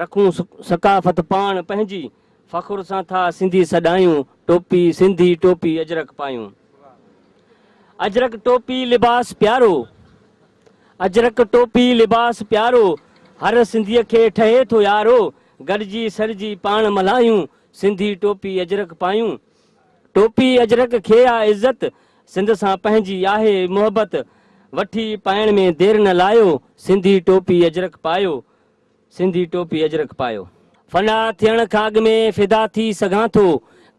رکون ثقافت پاڻ پنهنجي، فخر سان ٿا سنڌي سڏايون، ٽوپي سنڌي ٽوپي اجرڪ پايون. اجرڪ ٽوپي لباس پيارو، اجرڪ ٽوپي لباس پيارو، هر سنڌيء کي ٺهي ٿو يارو، گڏجي سڏجي پاڻ ملهايون، سنڌي ٽوپي اجرڪ پايون. ٽوپي اجرڪ کي آ عزت، سنڌ سان پنهنجي آهي محبت، وٺي پائڻ ۾ دير نه لايو، سنڌي ٽوپي اجرڪ پايو. سنڌي ٽوپي اجرڪ پايو. فنا ٿيڻ کان اڳ ۾ فدا ٿي سگهان ٿو،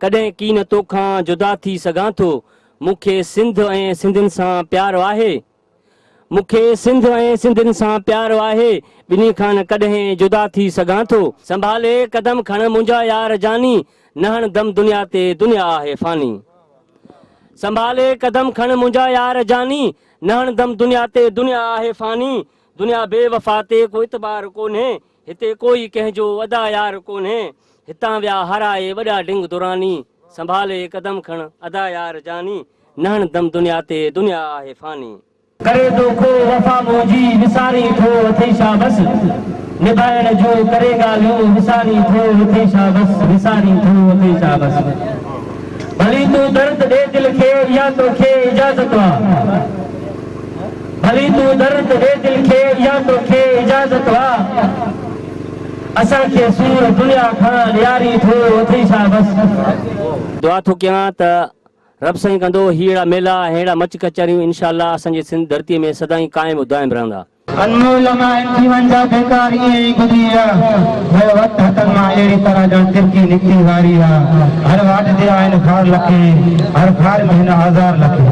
ڪڏهن ڪين توکان جدا ٿي سگهان ٿو، مون کي سنڌ ۽ سنڌين سان پيارو آهي، مون کي سنڌ ۽ سنڌين سان پيارو آهي، ٻنهي کان نه ڪڏهن جدا ٿي سگهان ٿو. سنڀالي قدم کڻ منهنجا يار جاني، نه هڻ دم دنيا تي دنيا آهي فاني. سنڀالي قدم کڻ منهنجا يار جاني، نه هڻ دم دنيا تي دنيا آهي فاني. دنيا بي وفا تي ڪو اعتبار ڪونهي هتي ڪوئي ڪنهن جو ادا يار ڪونهي هتان ويا هارائي وڏا ڊنگ دراني سنڀالي قدم کڻ ادا يار جاني نهڻ دم دنيا تي دنيا آهي فاني. ڪري ٿو ڪو وفا منهنجي وسارين ٿو اٿي شا بس نڀائڻ جون ڪري ڳالهيون وسارين ٿو اٿي شا بس وسارين ٿو اٿي شا بس ڀلي تون درد ڏي دل کي اها توکي اجازت آ. ڀلي تون در تي ويھ دل کي اها توکي اجازت وا اسان کي سور دنيا کان ڏياري ٿو اٿئي ڇا بس. دعا ٿو ڪيان ته رب سائين ڪندو هي اهڙا ميلا ۽ اهڙا مچ ڪچهريون انشاء الله اسان جي سنڌ ڌرتي ۾ سدائين قائم و دائم رهندا. انمول امان ٿي وڃ جا بيڪار ائين ئي گذري ويا جو وقت هٿن مان اهڙي طرح ڄڻ ترڪي نڪتي واري آ هر واٽ تي آهن خار لکين هر خار ۾ هن آزار لکين.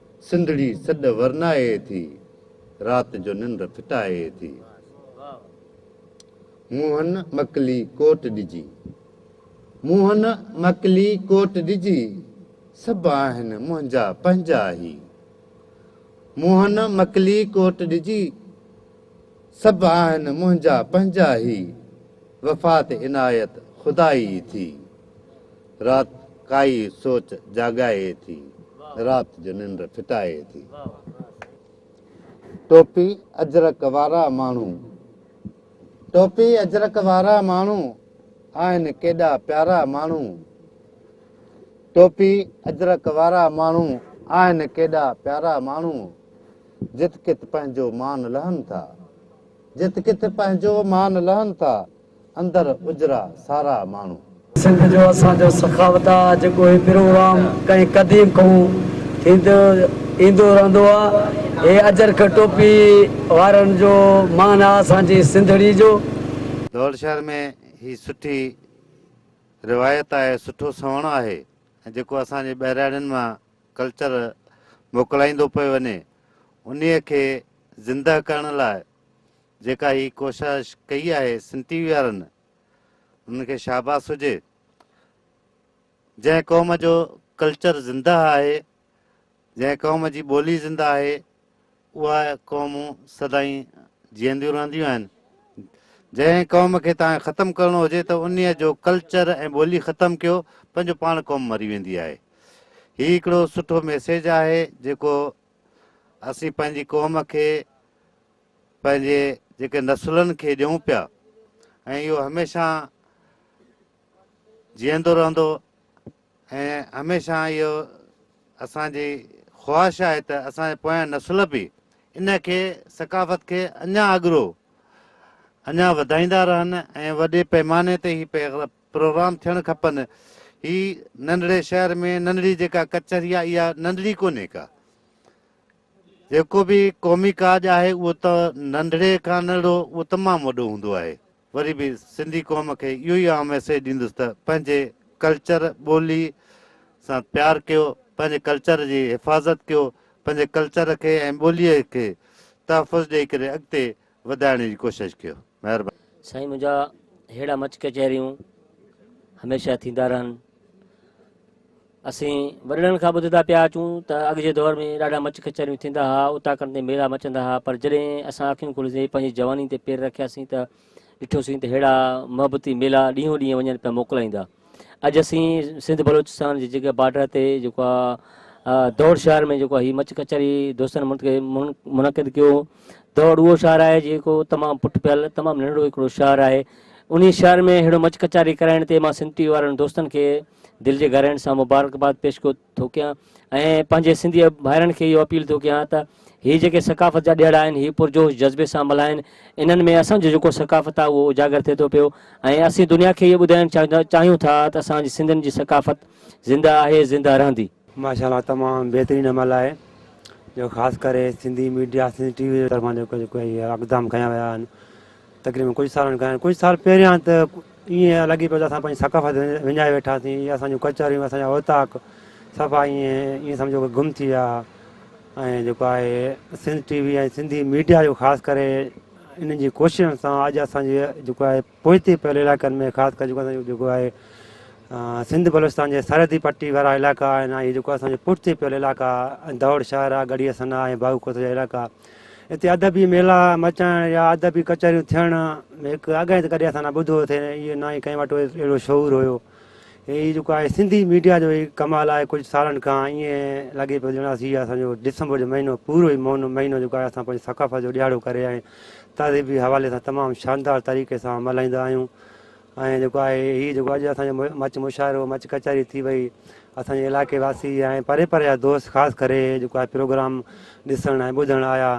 سنڌڙي سڏ ورنائي ٿي، رات جو ننڊ ڦٽائي ٿي. منهن مڪلي ڪوٽ ڏجي. منهن مڪلي ڪوٽ ڏجي، سڀ آهن منهنجا پنهنجا هي. منهن مڪلي ڪوٽ ڏجي، سڀ آهن منهنجا پنهنجا هي. وفات عنايت خدائي ٿي. رات ڪائي سوچ جاڳائي ٿي. رات جو ننڊ ڦٽائي ٿي. ٽوپي اجرڪ وارا ماڻهو. ٽوپي اجرڪ وارا ماڻهو. آهن ڪيڏا پيارا ماڻهو. ٽوپي اجرڪ وارا ماڻهو. آهن ڪيڏا پيارا ماڻهو. جت ڪت پنهنجو مان لهن ٿا. جت ڪت پنهنجو مان لهن ٿا. اندر اجرا سارا ماڻهو. سنڌ جو اسان جو سخاوت آ جيڪو هي پروگرام ڪئين قديم کئون ٿيندو ايندو رهندو آ هي اجرڪ ٽوپي وارن جو مان آ اسان جي سنڌڙي جو. دهل شهر ۾ هي سٺي روايت آهي سٺو سهڻو آهي ۽ جيڪو اسان جي ٻهراڙين مان ڪلچر موڪلائيندو پيو وڃي انهي کي زنده ڪرڻ لاء جيڪا هي ڪوشش ڪئي آهي سن ٽي وي وارن انهن کي شاباس هجي جنهن قوم جو ڪلچر زنده آهي جنهن قوم جي ٻولي زنده آهي اها قومون سدائين جيئنديون رهنديون آهن جنهن قوم کي تان ختم ڪرڻو هجي ته ان جو ڪلچر ۽ ٻولي ختم ڪيو پنهنجو پاڻ قوم مري ويندي آهي هي هڪڙو سٺو ميسيج آهي جيڪو اسين پنهنجي قوم کي پنهنجي جيڪي نسلن کي ڏيون پيا ۽ اهو هميشه جيئندو رهندو ۽ هميشه اهو اسان جي خواهش آهي ته اسان جي پويان نسل به ان کي ثقافت کي اڃا اڳرو اڃا وڌائيندا رهن ۽ وڏي پيماني تي هي پروگرام ٿيڻ کپن هي ننڍڙي شهر ۾ ننڍڙي جيڪا ڪچهري آهي اها ننڍڙي ڪونهي ڪا جيڪو به قومي ڪاڄ آهي اهو ته ننڍڙي کان ننڍڙو اهو تمام وڏو هوندو آهي. وري به سنڌي قوم کي اهو ئي آئون ميسيج ڏيندس ته پنهنجي ڪلچر ٻولي سان پيار ڪيو، پنهنجي ڪلچر جي حفاظت ڪيو، پنهنجي ڪلچر کي ۽ ٻولي کي تحفظ ڏئي ڪري اڳتي وڌائڻ جي ڪوشش ڪيو مھرباني. سائين منهنجا ههڙا مچ ڪچهريون هميشه ٿيندا رهن اسين وڏڙن کان ٻڌدا پيا اچون ته اڳ جي دور ۾ ڏاڍا مچ ڪچهريون ٿيندا ها اوطاقن تي ميلا مچندا ها پر جڏهن اسان اکيون کوليندي پنهنجي جواني تي پير رکياسين ته ڏٺوسين ته ههڙا محبتي ميلا ڏينهون ڏينهن وڃن پيا موڪلائيندا اڄ اسين سنڌ بلوچستان جي جڳهه بارڊر تي جيڪو آ دور شهر ۾ جيڪو هي مچ ڪچهري دوستن منعقد ڪيو دور اهو شهر آهي جيڪو تمام پٺ پيل تمام ننڍڙو هڪڙو شهر آهي انهي شهر ۾ ههڙو مچ ڪچهري ڪرائڻ تي مان سنڌ ٽي وي وارن دوستن کي دل جي گهرائڻ سان مبارڪباد پيش ڪيو ٿو ڪيان ۽ پنهنجي سنڌي ڀائرن کي اهو اپيل ٿو ڪيان ته هي جيڪي ثقافت جا ڏيهاڙا آهن هي پرجوش جذبي سان ملهائين انهن ۾ اسان جو جيڪو ثقافت آهي اهو اجاگر ٿئي ٿو پيو ۽ اسين دنيا کي اهو ٻڌائڻ چاهيون ٿا ته اسان جي سنڌين جي ثقافت زنده آهي زنده رهندي. ماشاء الله تمام بهترين عمل آهي جو خاص ڪري Sindhi media Sindhi T V جي طرفان جيڪو جيڪو هي اقدام کنيا ويا آهن تقريبن ڪجهه سالن کان ڪجهه سال پهريان ته ائين لڳي پيو ته اسان پنهنجي ثقافت وڃائي ويٺاسين ۽ اسان جون ڪچهريون اسان جا اوطاق صفا ائين ائين سمجهو ته گم ٿي ويا ۽ جيڪو آهي Sindh T V ۽ Sindhi media جو خاص ڪري انهن جي ڪوششن سان اڄ اسان جي جيڪو آهي پوئتي پيل علائقن ۾ خاص ڪري جيڪو اسان جيڪو آهي سنڌ بلوچستان جي سرحدي پٽي وارا علائقا آهن ۽ جيڪو اسان جي پٺتي پيل علائقا دؤڙ شهر آهي ڳڙهيء ثنا ۽ باغ ڪوسه جا علائقا هتي ادبي ميلا مچائڻ يا ادبي ڪچهريون ٿيڻ ۾ هڪ اڳائين ته ڪڏهن اسان نه ٻڌو اٿئي ۽ نه ئي ڪنهن وٽ اهڙو شعور هيو. هي جيڪو آهي سنڌي ميڊيا جو ئي ڪمال آهي ڪجهه سالن کان ائين لڳي پيو ڄڻ اسين اسان جو ڊسمبر جو مهينو پورو ئي مهينو جيڪو آهي اسان پنهنجي ثقافت جو ڏيهاڙو ڪري ۽ تهذيبي حوالي سان تمام شاندار طريقي سان ملهائيندا آهيون. ۽ جيڪو آهي هي جيڪو اڄ اسان جو مچ مشاعرو مچ ڪچهري ٿي وئي اسان جي علائقي واسي ۽ پري پري جا دوست خاص ڪري جيڪو آهي پروگرام ڏسڻ ۽ ٻڌڻ آيا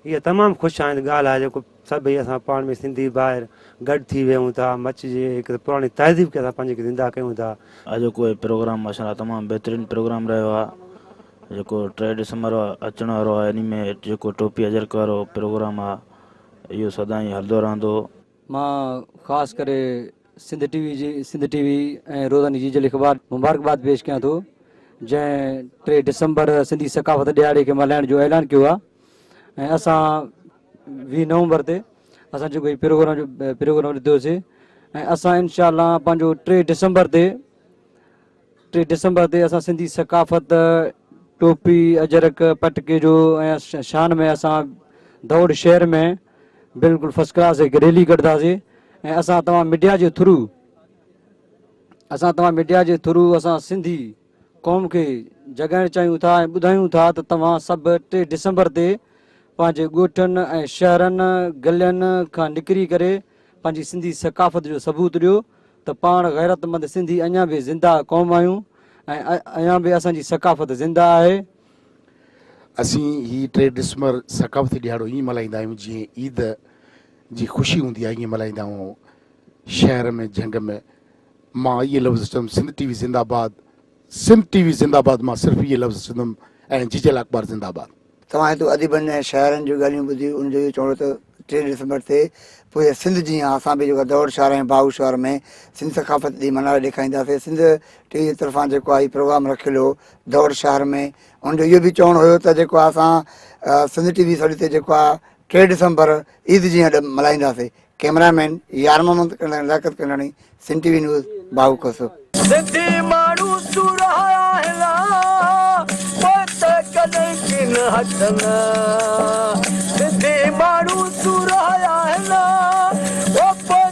اها تمام خوش آئند ڳالهه آهي جيڪو سڀئي اسان پاڻ ۾ سنڌي ڀائر گڏ ٿي ويهون ٿا مچ جي هڪ پراڻي تهذيب کي اسان پنهنجي کي زنده ڪيون ٿا. اڄوڪو هي پروگرام ماشاءالله تمام بهترين پروگرام رهيو آهي جيڪو ٽي ڊسمبر اچڻ وارو آهي انهي ۾ جيڪو ٽوپي اجرڪ وارو پروگرام آهي اهو سدائين هلندو رهندو. مان خاص ڪري سنڌ ٽي وي جي سنڌ ٽي وي ۽ روزاني جي جل اخبار مبارڪباد پيش ڪيان ٿو جنهن ٽي ڊسمبر سنڌي ثقافت ڏيهاڙي کي ملهائڻ جو اعلان ڪيو آهي ۽ اسان ويهه نومبر تي اسان جيڪو هي پروگرام جو پروگرام ڏيتوسي ۽ اسان انشاء الله پنهنجو ٽي ڊسمبر تي ٽي ڊسمبر تي اسان سنڌي ثقافت ٽوپي، اجرڪ، پٽڪي جو ۽ شان ۾ اسان دؤڙ شهر ۾ بلڪل فرسٽ ڪلاس هڪ ريلي ڪڍداسي ۽ اسان توهان ميڊيا جي ٿرو اسان توهان ميڊيا جي ٿرو اسان سنڌي قوم کي جڳائڻ چاهيون ٿا ۽ ٻڌايون ٿا ته توهان سڀ ٽي ڊسمبر تي پنهنجي ڳوٺن ۽ شهرن گلين کان نڪري ڪري پنهنجي سنڌي ثقافت جو ثبوت ڏيو ته پاڻ غيرتمند سنڌي اڃان به زنده قوم آهيون ۽ اڃان به اسان جي ثقافت زنده آهي. اسين هي ٽي ڊسمبر ثقافتي ڏهاڙو ائين ملهائيندا آهيون جيئن عيد جي خوشي هوندي آهي ائين ملهائيندا آهيون شهر ۾ جهنگ ۾ مان اهي لفظ چوندم سنڌ ٽي وي زنده باد سنڌ ٽي وي زنده باد مان صرف اهي لفظ چوندم ۽ جيجل اخبار زنده باد. توهان هتو اديبن ۽ شاعرن جون ڳالهيون ٻڌيون ان جو اهو چوڻ هو ته ٽي ڊسمبر تي پوري سنڌ جيان اسان به جيڪو دؤڙ شاهراهه ۽ باهو شاهراهه ۾ سنڌ ثقافت ڏينهن ملهاري ڏيکارينداسين سنڌ ٽي وي جي طرفان جيڪو آهي هي پروگرام رکيل هو دؤڙ شاهراهه ۾ ان جو اهو به چوڻ هيو ته جيڪو اسان سنڌ ٽي وي سڏ تي جيڪو آهي ٽي ڊسمبر عيد جيئن اڏ ملهائينداسين، camera man Yar Muhammad ۽ Liaquat Kandani, Sindh T V news, باهوڪوسو. سنڌي ماڻهو سورهايا آهن پوء ته ڪڏهن ڪين هٽن سنڌي ماڻهو سورهايا آهن پوء